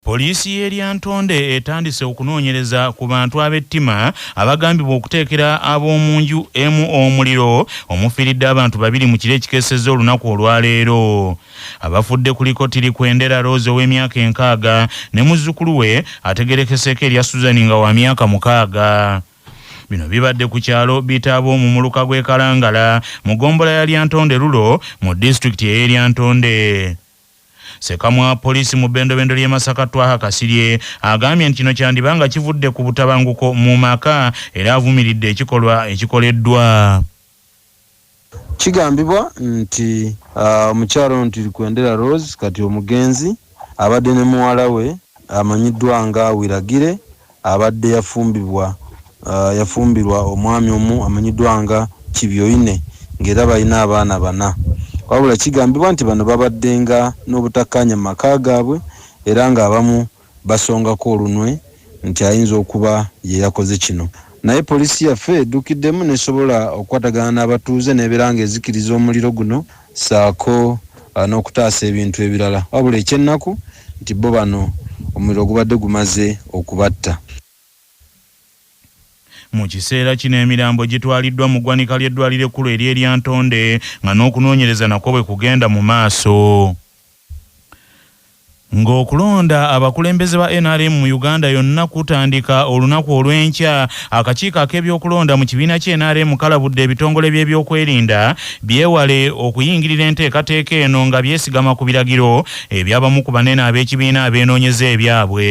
Poliisi y'e Lyantonde etandise okunoonyereza ku bantu ab'ettima abagambibwa okuteekera ab'omu nju emu omuliro omufiiridde abantu babiri mu kiro ekikeesezza olunaku olwaleero. Abafudde kuliko Tirikwendera Rose ow'emyaka enkaaga ne muzzukulu we ategerekeseeko erya Susan nga wa myaka mukaaga. Bino bibadde ku kyalo Bitaabo mu muluka gw'e Kalangala mu ggombolola ya Lyantonde Rulo mu disitulikiti ey'e Lyantonde. Ssekamwa wa poliisi mu bendobendo ly'e Masaka Twaha Kasirye agambye nti kino kyandiba nga kivudde ku butabanguko mu maka era avumiridde ekikolwa ekikoleddwa. Kigambibwa nti omukyala ono Tirikwendera Rose kati omugenzi abadde ne muwala we amanyiddwa nga Wiragire Abadde yafumbibwa yafumbirwa omwami omu amanyiddwa nga Kibyoine ng'era balina abaana bana wabula kigambibwa nti bano babaddenga n'obutakkaanya mu maka gaabwe era ng'abamu basongako olunwe nti ayinza okuba ye yakoze kino naye poliisi yaffe eddukiddemu n'esobola okukwatagana n'abatuuze n'ebeera ng'ezikiriza omuliro guno ssaako n'okutaasa ebintu ebirala wabula eky'ennaku nti bbo bano omuliro gubadde gumaze okubatta. Mu kiseera kino emirambo gitwaliddwa mu ggwanika ly'eddwaliro ekkulu ery'e Lyantonde nga n'okunoonyereza nakwo bwe kugenda mu maaso. Ng'okulonda abakulembeze ba nrm mu Uganda yonna kutandika olunaku olw'enkya, akakiiko ak'ebyokulonda mu kibiina ki nrm kalabudde ebitongole by'ebyokwerinda byewale okuyingirira enteekateeka eno nga byesigama ku biragiro eby'abamu ku banene ab'ekibiina abeenoonyeza ebyabwe.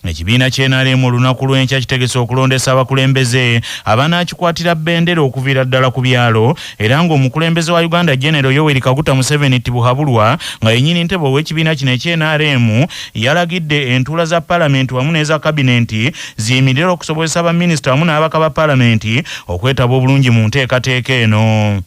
Ekibiina kye NRM olunaku lw'enkya kitegese okulondesa abakulembeze abanaakikwatira bendera okuviira ddala ku byalo era ng'omukulembeze wa Uganda Genero Yoweri Kaguta Museveni Tibuhaburwa nga yennyini ntebe ow'ekibiina kino ekye NRM yalagidde entuula za palamenti wamu n'eza kabinenti ziyimirire okusobozesa baminisita wamu n'abaka ba palamenti okwetaba obulungi mu nteekateeka eno.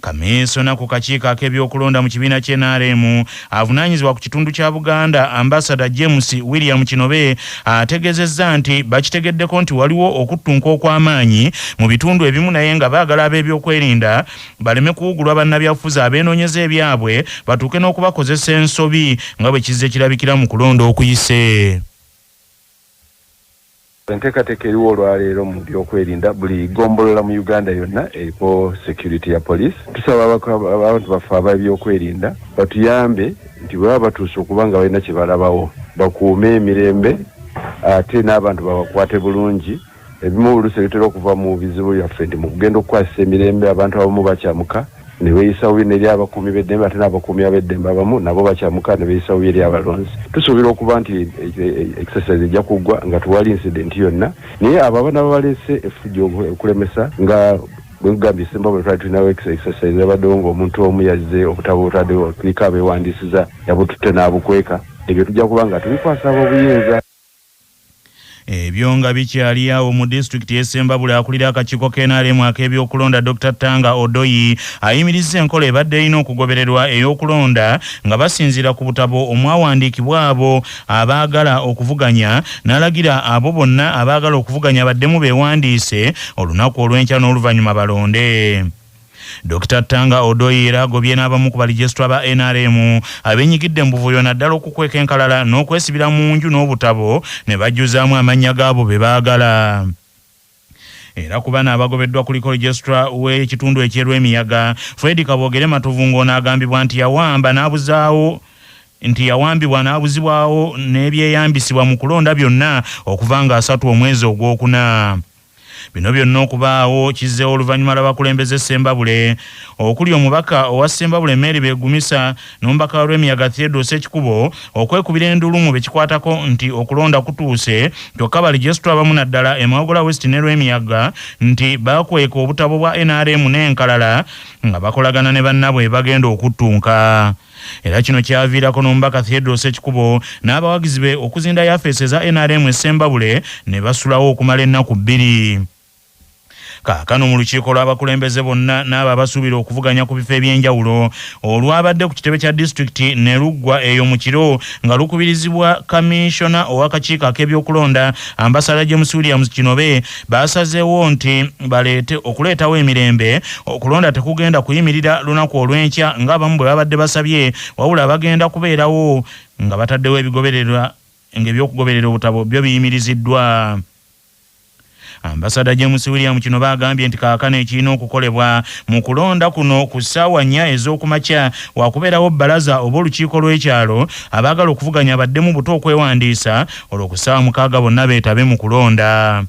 Kaminsona ku kakiiko ak'ebyokulonda mu kibiina kye nrm avunaanyizibwa ku kitundu kya Buganda Ambasada James William Kinobe ategezezza nti bakitegeddeko nti waliwo okuttunka okw'amaanyi mu bitundu ebimu naye nga baagala ab'ebyokwerinda baleme kuwugulwa bannabyabufuzi abeenonyeza ebyabwe batuuke n'okubakozesa ensobi nga bwe kizze kirabikira mu kulonda okuyise. Enteekateeka eriwo olwaleero mu by'okwerinda, buli ggombolola mu Uganda yonna eriko security ya police. Tusaba abantu baffe ab'ebyokwerinda batuyambe nti bwe baba batuuse okuba nga balina kye balabawo bakuume emirembe ate n'abantu babakwate bulungi. Ebimu oluusi ebitera okuva mu bizibu byaffe nti mu kugenda okukwasisa emirembe abantu abamu bakyamuka. ne beeyisa bubi n'eri abakuumi b'eddembe ate n'abakuumi ab'eddembe abamu nabo bakyamuka ne beeyisa bubi eri abalonzi tusuubira okuba nti e, e, e, exercise ejja kuggwa nga tewali incident yonna naye abo abana babaleese efujjo okulemesa nga bwegambye simba bwe twali tulinawo exercise yabaddewo ng'omuntu omu yazze obutabo butaddewo tuliko abeewandiisiza yabututte n'abukweka ebyo tujja kuba nga tubikwasa ab'obuyinza Ebyo nga bikyali awo, mu disitulikiti y'e Ssembabule akulira akakiiko ka nrm ak'ebyokulonda Dokita Tanga Odoi ayimirizza enkola ebadde erina okugobererwa ey'okulonda nga basinziira ku butabo omwawandiikibwa abo abaagala okuvuganya n'alagira abo bonna abaagala okuvuganya baddemu beewandiise olunaku olw'enkya n'oluvannyuma balonde. Dokita Tanga Odoi era agobye n'abamu ku balijesitula ba nrm abenyigidde mu buvuyo naddala okukweka enkalala n'okwesibira mu nju n'obutabo ne bajjuzaamu amannya g'abo be baagala. Era ku bano abagobeddwa kuliko Rijesitula w'ekitundu eky'e Lwemiyaga, Fred Kaboogere Matovu ng'ono agambibwa nti yawamba n'abuzaawo nti yawambibwa n'abuzibwawo n'ebyeyambisibwa mu kulonda byonna okuva ng'asatu omwezi ogwokuna. Bino byonna okubaawo kizzeewo oluvannyuma lw'abakulembeze Ssembabule okuli omubaka owa Ssembabule Mary Begumisa n'omubaka wa Lwemiyaga Theodore Ssekikubo okwekubira enduulu mu bekikwatako nti okulonda kutuuse kyokka Balijesitule abamu naddala e Mawogola West ne Lwemiyaga nti bakweka obutabo bwa nrm n'enkalala nga bakolagana ne bannabwe bagenda okuttunka. era kino kyaviirako nomba cathedral sekikubo n'abawagizi be okuzinda yafeesi eza nrm esembabule ne basulawo okumala ennaku bbiri kaakano mu lukiiko lw'abakulembeze bonna n'abo abasuubira okuvuganya ku bifo eby'enjawulo olwabadde ku kitebe kya disitulikiti ne luggwa eyo mu kiro nga lukubirizibwa kaminsona ow'akakiiko ak'ebyokulonda ambasada james williams kinobe baasazeewo nti baleete okuleetawo emirembe okulonda tekugenda kuyimirira lunaku olw'enkya ng'abamu bwe babadde basabye wabula bagenda kubeerawo nga bataddewo ebigobererwa ng'ebyokugoberera obutabo byo biyimiriziddwa ambasada james william kino baagambye nti kaakano ekirina okukolebwa mu kulonda kuno ku ssaawa nnya ez'okumakya wakubeerawo bbalaza oba olukiiko lw'ekyalo abaagala okuvuganya baddemu buto okwewandiisa olwo ku ssaawa mukaaga bonna beetabe mu kulonda.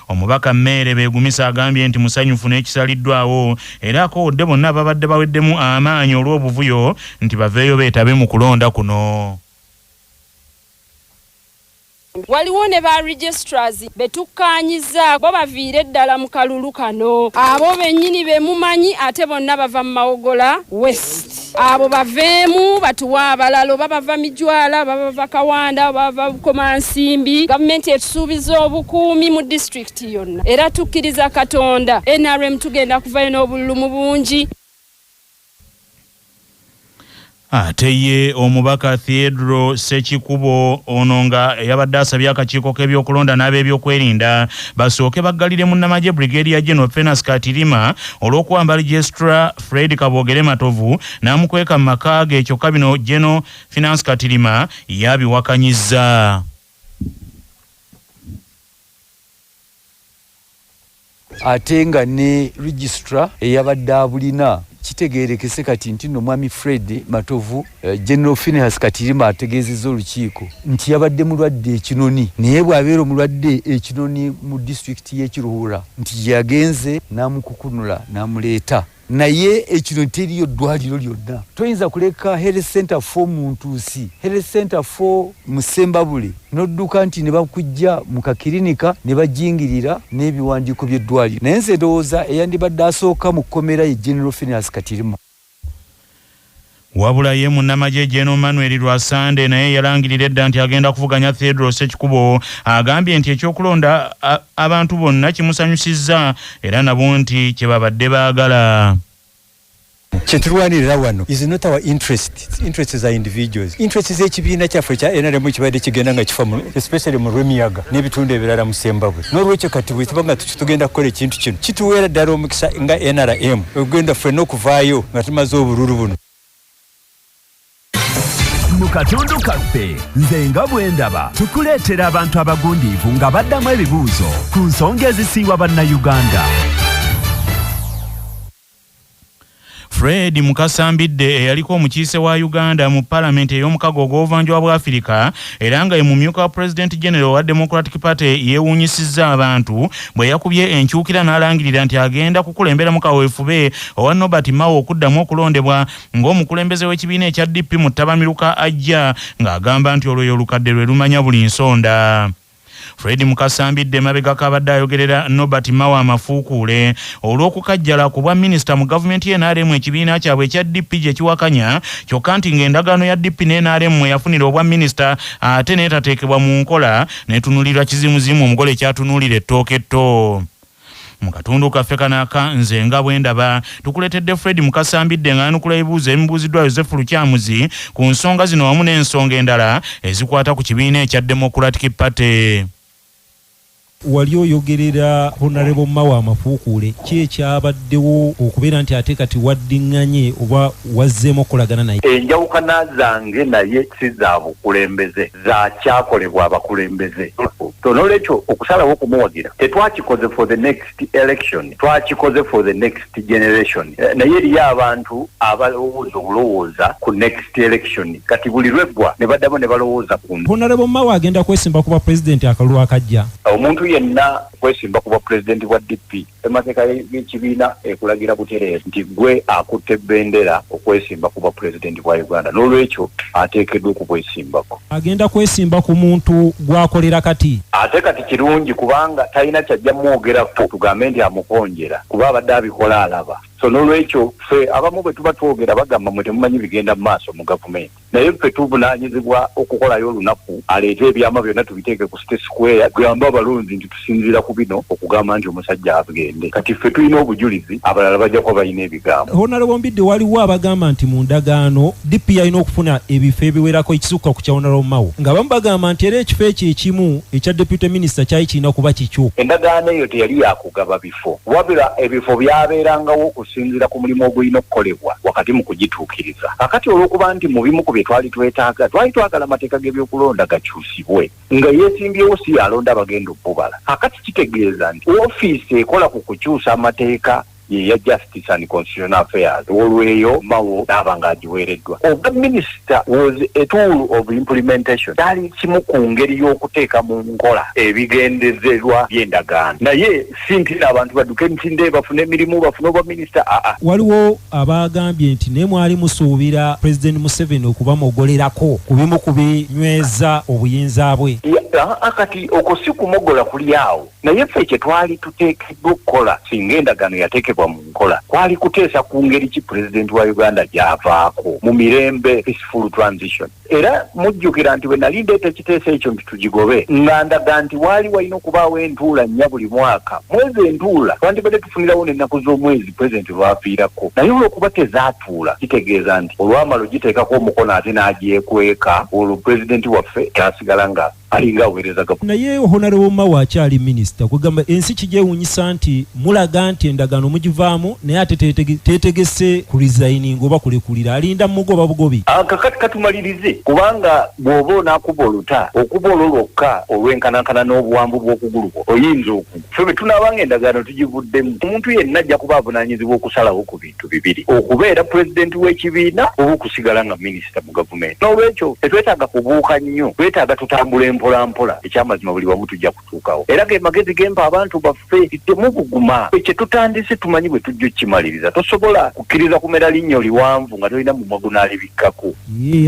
Omubaka Meere Begumisa agambye nti musanyufu n'ekisaliddwawo era akowodde bonna ababadde baweddemu amaanyi olw'obuvuyo nti baveeyo beetabe mu kulonda kuno. Waliwo ne ba registrars be tukkaanyizza bo baviire ddala mu kalulu kano. Abo bennyini be mumanyi ate bonna bava mu Mawogola West. abo baveemu batuwe abalala oba bava mijwala oba bava kawanda oba bava bukomansimbi gavumenti etusuubiza obukuumi mu disitulikiti yonna era tukkiriza katonda nrm tugenda kuvayo n'obululu mu bungi ate ye omubaka theodro sekikubo ono nga eyabadde asabye akakiiko k'ebyokulonda n'ab'ebyokwerinda basooke baggalire munnamagye brigedia general fenas katirima olw'okuwamba registra Fred Kaboogere Matovu n'amukweka mu maka ge kyokka bino Gen. Finance Katirima ye abiwakanyizza. ate nga ne Registrar eyabadde abulina kitegeerekese kati nti nno Mwami Fred Matovu Eh, General Finehas Katirima ategeezezza olukiiko nti yabadde mulwadde ekinoni naye bw'abeera omulwadde ekinoni mu disitulikiti y'e Kiruhura nti gye yagenze n'amukukunula n'amuleeta naye ekino teriyo ddwaliro lyonna toyinza kuleka health center fo mu ntuusi health center fo mu sembabule n'odduka nti ne bakujja mu kakirinika ne bajingirira n'ebiwandiiko by'eddwaliro naye nze ndowooza eyandibadde asooka mu kkomera ye general finance katirima Wabula ye munnamagye Gen Manuel Rwasande naye eyalangirira edda nti agenda kuvuganya Theodore Sekikubo agambye nti eky'okulonda abantu bonna kimusanyusizza era nabo nti kye babadde baagala. Kye tulwanirira wano is not our interest, it's interests za individuals. Interests z'ekibiina kyaffe ekya nrm ekibadde kigenda nga kifa especially mu Lwemiyaga n'ebitundu ebirala mu Ssembabule. N'olwekyo kati bwe tuba nga tugenda kukola ekintu kino kituweera ddala omukisa nga nrm ogenda ffenna okuvaayo nga tumaze obululu buno mu katundu kaffe nze nga bwendaba tukuleetera abantu abagundiivu nga baddamu ebibuuzo ku nsonga ezisiiwa bannayuganda Fred Mukasa Mbidde eyaliko omukiise wa Uganda mu palamenti ey'omukago ogw'obuvanjuba bwa Afirika era nga ye mumyuka wa Pulezidenti Genero owa Democratic Party yeewuunyisizza abantu bwe yakubye enkyukira n'alangirira nti agenda kukulemberamu kaweefube owa Nobert Mao okuddamu okulondebwa ng'omukulembeze w'ekibiina ekya DP mu ttabamiruka ajja ng'agamba nti olwo olukadde lwe lumanya buli nsonda. Fred Mukasa Mbidde emabegako abadde ayogerera Nobert Mao amafuukuule olw'okukajjala ku bwa minisita mu gavumenti ye NRM ekibiina kyabwe ekya DP gye kiwakanya kyokka nti ng'endagaano ya DP ne NRM mwe yafunira obwa minisita ate n'etateekebwa mu nkola n'etunuulirwa kizimuzimu omugole ky'atunuulira ettooke etto. Mu katundu kaffe kano aka Nze nga bwe ndaba, tukuleetedde Fred Mukasa Mbidde ng'ayanukula ebibuuzo ebimubuuziddwa Yozefu Lukyamuzi ku nsonga zino wamu n'ensonga endala ezikwata ku kibiina ekya Democratic Party. Wali oyogerera Honarebo Mawa Mafuukuule, ki ekyabaddewo okubeera nti ate kati waddinganye oba wazzeemu okukolagana naye? Enjawukana zange naye si za bukulembeze. za kyakolebwa abakulembeze so nolwekyo okusalawo okumuwagira tetwakikoze for the next election twakikoze for the next generation eh, naye eriyo abantu abalowooza obulowooza ku next election kati buli lweggwa ne baddamu ne balowooza ku honarebo mawe agenda kwesimba ku bwa pulezidenti akalulu akajja omuntu yenna kwesimba ku bwa pulezidenti bwa dp Ssemateeka y'ekibiina ekulagira butereevu nti gwe akutte bbendera okwesimba ku bwa pulezidenti bwa Uganda n'olwekyo ateekeddwa okubwesimbako. Agenda kwesimba ku muntu gw'akolera kati. Ate kati kirungi kubanga talina kyajja mwogerako tugambe nti amukonjera kuba abadde abikola alaba. So n'olwekyo ffe abamu bwe tuba twogera bagamba mwe temumanyi bigenda mu maaso mu gavumenti. naye ffe tuvunanyizibwa okukolayo olunaku aleete ebyama byonna tubiteeke ku state square tugambe abalonzi nti tusinziira ku bino okugamba nti omusajja agende kati ffe tulina obujulizi abalala bajja kuba balina ebigambo honale bombidde waliwo abagamba nti mu ndagaano dp yalina okufuna ebifo ebiwerako ekisukka ku kya honale omawo nga bamu bagamba nti era ekifo ekyo ekimu ekya deputy minister kyali kirina kuba kikyo endagaano eyo teyali yakugaba bifo kifo wabula ebifo byabeerangawo okusinziira ku mulimu ogulina okukolebwa wakati mu kugituukiriza. Kakati olw'okuba nti mu bimu ku bye twali twetaaga twali twagala amateeka g'ebyokulonda gakyusibwe, nga eyeesimbyewo si y'alonda abagenda okubala. Kakati kitegeeza nti ofiisi ekola ku kukyusa amateeka ye ya Just. Justice and Constitutional Affairs olweyo mawo naaba nga agiweereddwa. Obwa minisita was a tool of implementation, kyali kimu ku ngeri y'okuteeka mu nkola ebigendezerwa by'endagaano naye si nti no abantu baduke emisinde bafune emirimu bafune obwa minisita aa. Waliwo abaagambye nti naye mwali musuubira Pulezidenti Museveni okubamogolerako ku bimu ku binyweza obuyinza bwe. Aa kati okwo si kumogola kuli awo. naye ffe kye twali tuteekeddwa okukola singa endagaano yateekebwa mu nkola kwali kuteesa ku ngeri ki pulezidenti wa uganda gy'avaako mu mirembe peaceful transition era mujjukira nti bwe nali ndeeta ekiteeso ekyo nti tugigobe nga ndaga nti waali walina okubaawo entuula nnya buli mwaka mwezi entuula twandibadde tufunirawo n'ennaku z'omwezi pulezidenti lwafiirako naye olwokuba tezaatuula kitegeeza nti olwamala ogiteekako omukono ate n'agyekweka olwo pulezidenti waffe kyasigala nga alinga aweereza gavumenti. Naye Honorable Mao akyali Minisita, kwegamba ensi kigyewunyisa nti mulaga nti endagaano mugivaamu naye ate tetegese ku resigning oba kulekulira, alinda mumugoba bugobi. Kakati katumalirize kubanga bwoba onakuba oluta okuba olwo lwokka olwenkanankana n'obuwanvu bw'okugulu kwo oyinza okugwa. Ffe bwetunaaba nga endagaano tugivuddemu, omuntu yenna ajja kuba avunanyizibwa okusalawo ku bintu. bintu bibiri okubeera pulezidenti w'ekibiina oba okusigala nga minisita mu gavumenti n'olwekyo tetwetaaga kubuuka nnyo twetaaga tutambula empolampola ekyamazima buli wamu tujja kutuukawo era ge magezi gempa abantu baffe temubuguma ekyo tutandise tumanyi bwe tujja okukimaliriza tosobola kukkiriza kumera linnyo liwanvu nga tolina mumwa gunaalibikkako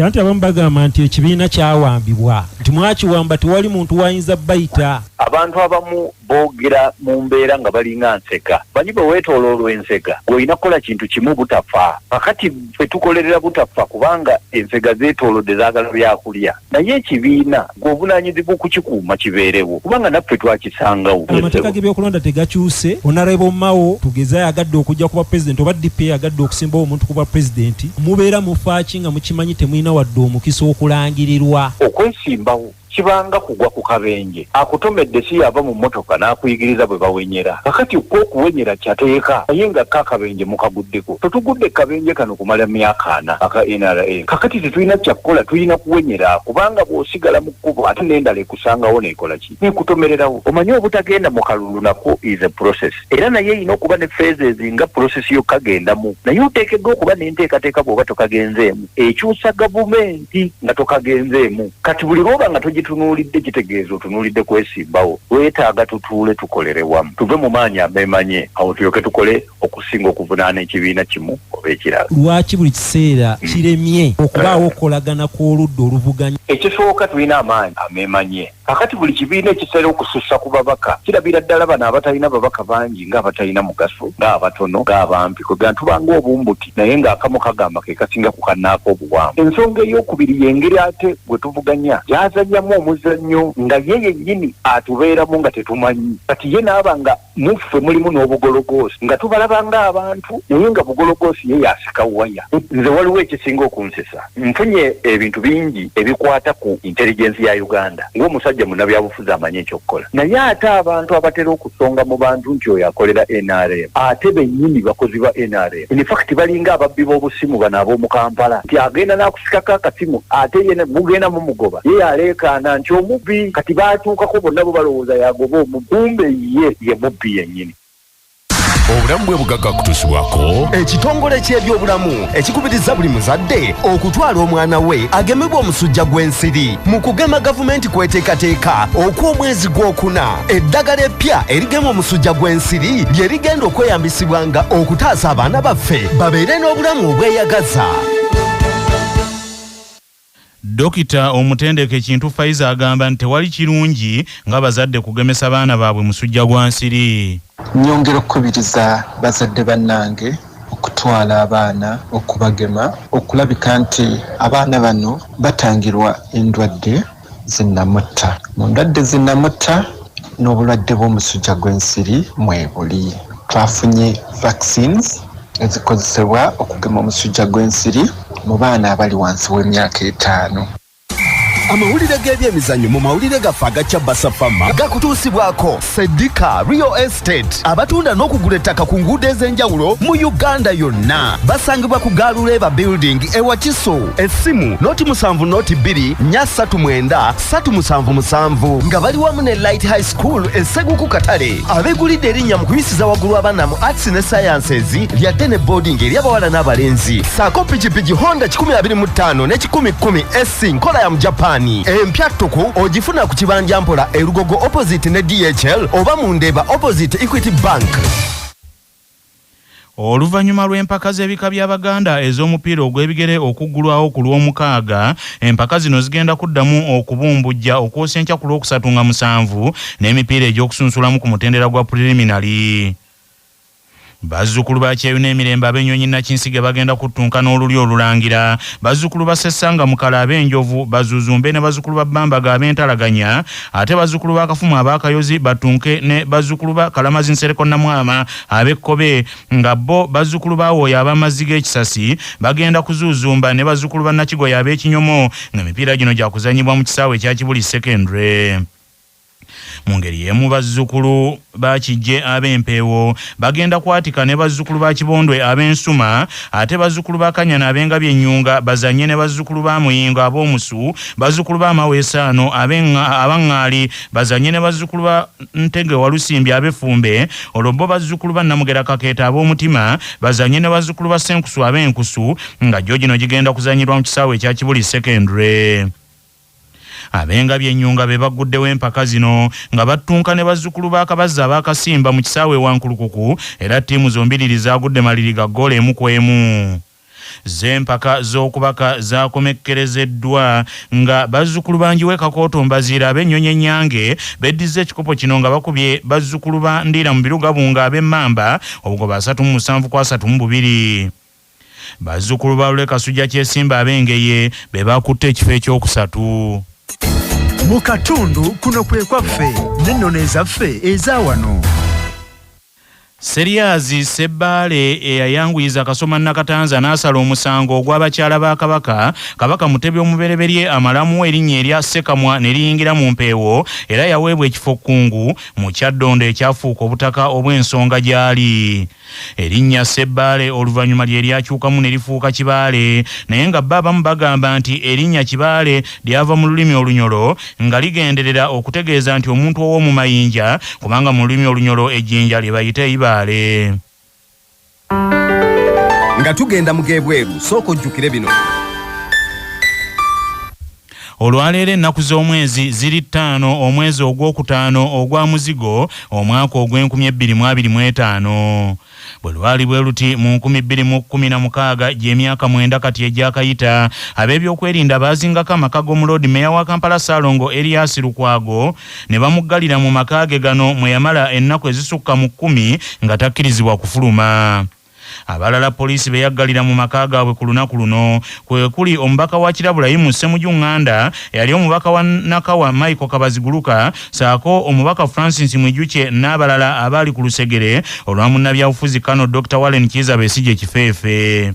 anti abamu bagamba nti ekibiina kyawambibwa nti mwakiwamba tewali muntu wayinza bayita abantu abamu Boogera mu mbeera nga balinga nsega. Banyi bwe weetooloolwa ensega, ggwe olina kukola kintu kimu butafa. Kaakati ffe tukolerera butafa kubanga ensega zeetoolodde zaagala byakulya. Naye ekibiina ggwe ovunaanyizibwa okukikuuma kibeerewo kubanga naffe twakisangawo. Yes, Amateeka ssebo. g'ebyokulonda tegakyuse. Honourable Mao tugeze ayagadde okujja ku bwa president oba DP eyagadde okusimbawo omuntu ku bwa president. Mubeera mufaaki nga mukimanyi temulina wadde omukisa okulangirirwa? Okwesimbawo. kibanga kugwa ku kabenje akutomedde si yava mu motoka n'akuyigiriza bwe bawenyera kakati kwo okuwenyera kyateeka naye nga ka kabenje mukaguddeko tetugudde kabenje kano kumala myaka ana aka nra kakati tetulina kyakukola tulina kuwenyera kubanga bw'osigala mu kkubo ate n'endala ekusangawo neekola ki neekutomererawo omanyi obutagenda mu kalulu nakwo is a process era naye erina okuba ne phases nga process yo kagendamu naye oteekeddwa okuba n'enteekateeka bw'oba tokagenzeemu ekyusa gavumenti nga tokagenzeemu kati buli lwoba nga togitunuulidde kitegeeza otunuulidde kwesimbawo wetaaga tutuule tukolere wamu tuve mu maanyi ameemanye awo tulyoke tukole okusinga okuvunaana ekibiina kimu oba ekirala lwaki buli kiseera hmm. kiremye okubaawo okukolagana kw'oludda oluvuganya ekisooka tulina amaanyi ameemanye Kakati buli kibiina ekisera okusussa ku babaka kirabira ddala bano abatalina babaka bangi nga abatalina mugaso nga abatono nga abampi kwe gana tuba nga obumbuti naye nga akamu kagamba ke kasinga ku kannaako obuwanvu. Ensonga ey'okubiri y'engeri ate gwe tuvuganya gy'azannyamu omuzannyo nga ye yennyini atubeeramu nga tetumanyi kati ye n'aba nga muffe mulimu n'obugologoosi nga tubalaba ng'abantu naye nga bugologoosi ye yasika waya. Nze waliwo ekisinga okunsesa, nfunye ebintu bingi ebikwata ku intelligence ya Uganda ng'omusajja munnabyabufuzi amanyi eky'okukola naye ate abantu abatera okusonga mu bantu nti oyo akolera nrm ate bennyini bakozi ba nrm. in fact balinga ababbi b'obusimu bano ab'omu kampala nti agenda n'akusikako akasimu ate ye mugenda mumugoba ye yaleekaana nti omubbi kati baatuukako bonna bo balowooza yagoba omubbi kumbe ye ye mubbi yennyini obulamu bwe bugagga kutusibwako ekitongole ky'ebyobulamu ekikubiriza buli muzadde okutwala omwana we agemebwa omusujja gw'ensiri mu kugema gavumenti kw'eteekateeka okw'omwezi gw'okuna eddagala eppya erigema omusujja gw'ensiri lye rigenda okweyambisibwanga okutaasa abaana baffe babeere n'obulamu obweyagaza Dokita omutendeke Kintu Faiza agamba nti tewali kirungi nga bazadde kugemesa baana baabwe musujja gwa nsiri. Nnyongera okukubiriza bazadde bannange okutwala abaana okubagema okulabika nti abaana bano batangirwa endwadde. zinnamutta. Mu ndwadde ezinnamutta n'obulwadde bw'omusujja gw'ensiri mwebuli. Twafunye vaccines ezikozesebwa okugema omusujja gw'ensiri mu baana abali wansi w'emyaka etaano. Amawulire g'ebyemizannyo mu mawulire gaffe aga Kyabasa Fama gakutuusibwako. Sedika Real Estate abatunda n'okugula ettaka ku nguudo ez'enjawulo mu Uganda yonna basangibwa ku Gaaluleeba Building e Wakiso. Essimu noti musanvu noti bbiri nya ssatu mwenda ssatu musanvu musanvu nga bali wamu ne Light High School e Seguku Katale abegulidde erinnya mu kuyisiza waggulu abaana mu Arts ne Sciences lyadde ne boarding eri abawala n'abalenzi. saako pikipiki honda 125 ne 110 sc nkola ya mujapani empya ttuku ogifuna ku kibanja mpola erugogo opposite ne dhl oba mu ndeeba opposite equity bank Oluvannyuma lw'empaka z'ebika by'Abaganda ez'omupiira ogw'ebigere okuggulwawo ku Lwomukaaga, empaka zino zigenda kuddamu okubumbujja okwosa enkya ku Lwokusatu nga musanvu n'emipiira egy'okusunsulamu ku mutendera gwa Preliminary. Bazzukulu ba Kyeyune Emirembe ab'ennyonyi Nakinsige bagenda kuttunka n'olulyo olulangira. Bazzukulu ba Ssessanga Mukala ab'enjovu, Bazuzumbe ne bazzukulu ba Bambaga ab'entalaganya ate bazzukulu ba Kafumu ab'akayozi battunke ne bazzukulu ba Kalamazi Nsereko Namwama ab'ekkobe nga bo bazzukulu ba Wooya ab'amazzi g'ekisasi bagenda kuzuuzumba ne bazzukulu ba Nakigoya ab'ekinyomo ng'emipiira gino gyakuzannyibwa mu kisaawe ekya Kibuli Secondary. Mu ngeri y'emu bazzukulu ba Kiggye ab'Empeewo bagenda kwatika ne bazzukulu ba Kibondwe ab'Ensuma ate bazzukulu ba Kanyana ab'Engabi Ennyunga bazannye ne bazzukulu ba Muyingo ab'Omusu, bazzukulu ba Maweesaano ab'e aba Ŋŋaali bazannye ne bazzukulu ba Ntege Walusimbi ab'e Ffumbe olwo bo bazzukulu ba Namugera Kakeeto ab'Omutima bazannye ne bazzukulu ba Ssenkusu ab'Enkusu nga gyo gino gigenda kuzannyirwa mu kisaawe ekya Kibuli Secondary. Ab'Engabi e Nyunga be bagguddewo empaka zino nga battunka ne bazzukulu ba Kabazzi ab'Akasimba mu kisaawe e Wankulukuku era ttiimu zombiriri zaagudde maliri ga ggoolo emu ku emu. Zzo empaka z'okubaka zaakomekkerezeddwa nga bazzukulu ba Njiwe Kakooto Mbaziira ab'Ennyonyi Ennyange beddizza ekikopo kino nga bakubye bazzukulu ba Ndiiramubiru Gabunga ab'Emmamba obugoba asatu mu musanvu ku asatu mu bubiri. Bazzukulu ba Lule Kasujja Kyesimba ab'Engeye be baakutte ekifo ekyokusatu. Mu katundu kuno kwe kwaffe n'ennono ezaffe eza wano. Seryazi Ssebbaale eyayanguyiza Kasoma Nakatanza n'asala omusango ogwa bakyala ba Kabaka, Kabaka Mutebi omubereberye amalamu erinnya erya Ssekamwa ne liyingira mu mpeewo era yaweebwa ekifo Kkungu mu Kyaddondo ekyafuuka obutaka obw'ensonga gy'ali. Erinnya Ssebbaale oluvannyuma lye lyakyukamu ne lifuuka Kibaale naye nga bo abamu bagamba nti erinnya Kibaale lyava mu lulimi Olunyolo nga ligenderera okutegeeza nti omuntu ow'omu mayinja kubanga mu lulimi Olunyolo ejjinja lye bayita eibaale. Nga tugenda mu g'ebweru sooka ojjukire bino. Olwaleero ennaku z'omwezi ziri ttaano omwezi ogw'okutaano ogwa muzigo omwaka ogw'enkumi ebbiri mu abiri mu etaano. Bwe lwali bwe luti mu nkumi bbiri mu kkumi na mukaaga gy'emyaka mwenda kati egyakayita, abeebyokwerinda baazingako amaka g'omu Loodi Meeya wa Kampala Ssalongo Erias Lukwago ne bamuggalira mu maka ge gano mwe yamala ennaku ezisukka mu kkumi nga takkirizibwa kufuluma. Abalala poliisi be yaggalira mu maka gaabwe ku lunaku luno kwe kuli omubaka wa Kirabulayimu Ssemuju Nganda, eyali omubaka wa Nakawa Michael Kabaziguluka ssaako omubaka Francis Mwijukye n'abalala abaali ku lusegere olwa munnabyabufuzi Kano Dokita Warren Kiiza Besigye Kifeefe.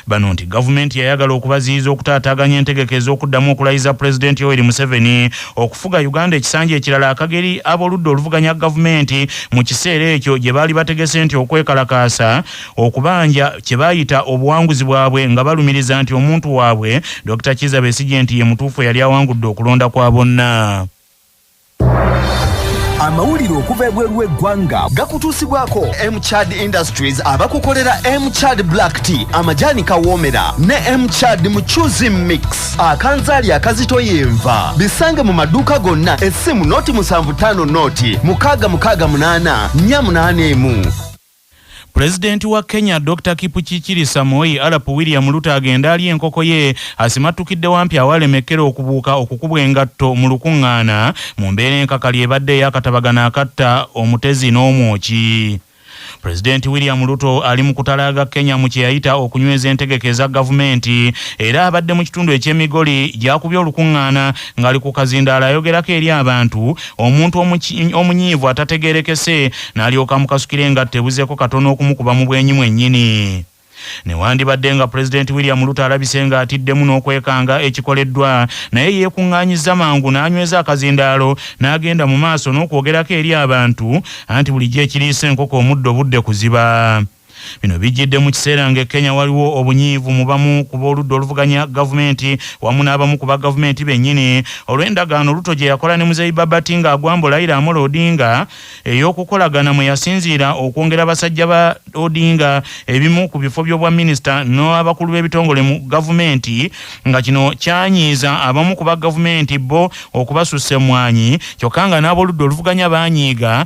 Bano nti gavumenti yayagala okubaziyiza okutaataaganya entegeka ez'okuddamu okulayiza Pulezidenti Yoweri Museveni okufuga Uganda ekisanja ekirala akageri ab'oludda oluvuganya gavumenti mu kiseera ekyo gye baali bategese nti okwekalakaasa okubanja kye baayita obuwanguzi bwabwe nga balumiriza nti omuntu waabwe Dokita Kizza Besigye nti ye mutuufu eyali awangudde okulonda kwa bonna. amawulire okuva ebweru w'eggwanga gakutuusibwako mchad industries abakukolera mchad black tea amajaani kawoomera ne mchad mucuzi mix akanzaali akazito yenva bisange mu maduuka gonna essimu noti musanvu ttaano noti mukaaga mukaaga munaana nnya munaana emu Pulezidenti wa Kenya Dokita Kipchirchirisa Moi Arap William Ruto agenda alya enkoko ye asimattukidde wampi awalemekkera okubuuka okukubwa engatto mu lukuŋŋaana mu mbeera enkakali ebadde ey'akatabagano akatta omutezi n'omwoki. Pulezidenti William Ruto ali mu kutalaaga Kenya mu kye yayita okunyweza entegeka eza gavumenti era abadde mu kitundu eky'e Migori gy'akubye olukuŋŋaana ng'ali ku kazindaalo ayogerako eri abantu omuntu omunyiivu atategerekese n'alyoka amukasukira engatta ebuzeeko katono okumukuba mu bwenyi mwennyini newandibadde nga pulezidenti william luto alabise nga atiddemu n'okwekanga ekikoleddwa naye yeekuŋŋaanyizza mangu n'anyweza akazindaalo n'agenda mu maaso n'okwogerako eri abantu anti bulijjo ekiriisa enkoko omuddo budde kuziba Bino bijjidde mu kiseera ng'e Kenya waliwo obunyiivu mu bamu ku b'oludda oluvuganya gavumenti wamu n'abamu ku bagavumenti bennyini olw'endagaano Ruto gye yakola ne Muzeeyi Babati ng'agwambo Laila Amolo Odinga ey'okukolagana mwe yasinziira okwongera basajja ba Odinga ebimu ku bifo by'obwaminisita n'abakulu b'ebitongole mu gavumenti nga kino kyanyiiza abamu ku bagavumenti bo okubasussa emmwanyi kyokka nga n'ab'oludda oluvuganya banyiiga